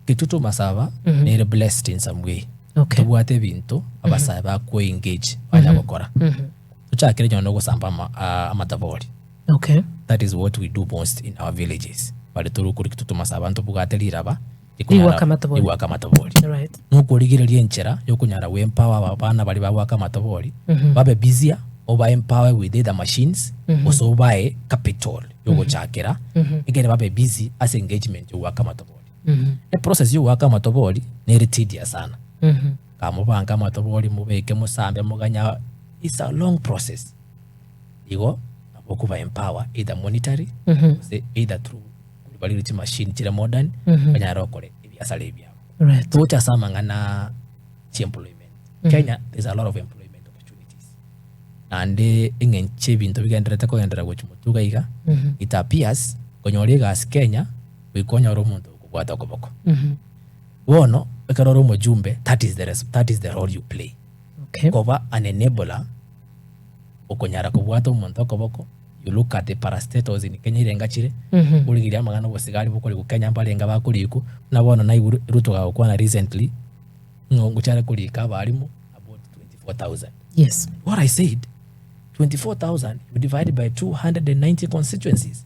Intwe tomasaba nere blessed in some way Okay. tobwate ebinto abasae bakwo engage banya gokora tochakire nyono gosamba ama- ah, amatabori Okay. that is what we do most in our villages bare tore okori kitwe tomasaba ntobwate riraba Rigwaka amatabori. rigwaka amatabori Alright. nokorigereria enchera yokonyara we empower aba bana bari bagwaka amatabori babe busier oba empower with either machines gose obae capital yogochakera egere babe busy ase engagement yogwaka amatabori Eprocess y'ogoaka amatobori nere tedious sana. Kamobange amatobori mobeke mosambe moganye a- it's a long process. Igo nabo okoba empower either monetary gose either through bariire chimachine chire modern banyare gokora ebiasara ebi amo. Right. Togocha ase amang'ana chi'employment. Kenya there is a lot of employment opportunities. Naende eng'encho ebinto bigendererete kogenderera gochia motuga iga it appears konyora egasi Kenya goika onyore omonto okobwata okoboko. Bono ekero ore omojumbe that is the, that is the role you play okay. Koba an enabler okonyara kobwata omonto okoboko you look at the parastatals in Kenya irenga chire mm -hmm. origiria amagana obosigari bokori gukenya mbarenga bakoriku na bono na Ruto gagokwana recently ng'o ngochare korika abarimu about 24000 yes what I said 24000 you divide by 290 constituencies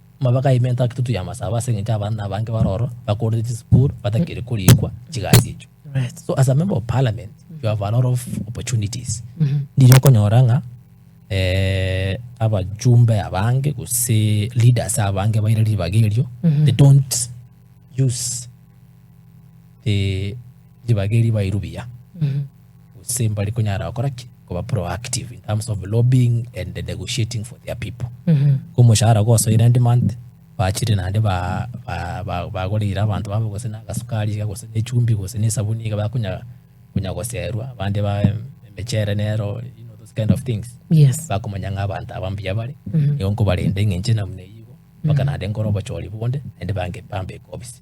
Amaboko aime nta tutu y'amasabo ase eng'encho abana na abange bare oro bakorete chisukuru batakeire korikwa chigasi echio. So as a member of parliament you have a lot of opportunities ndiri okonyora ng'a eh, abachumbe abange gose leaders abange baire ribaga erio they don't use the ribaga erio bairu buya. gose mbare konyara gokora ki koba proactive in terms of lobbying and negotiating for their people omoshahara gosoire end month bachire naende ba- ba- ba- bagoreire abanto babo gose na agasukari iga gose na echumbi gose na esabuni iga bakonya konya goserwa abande ba emechere nero you know those kind of things Yes. bakomanya ng'a abanto aba mbuya bare nigo nkobarenda eng'encho ena buna eyio mpaka naende nkore obochori bonde naende bange- bambeke obisi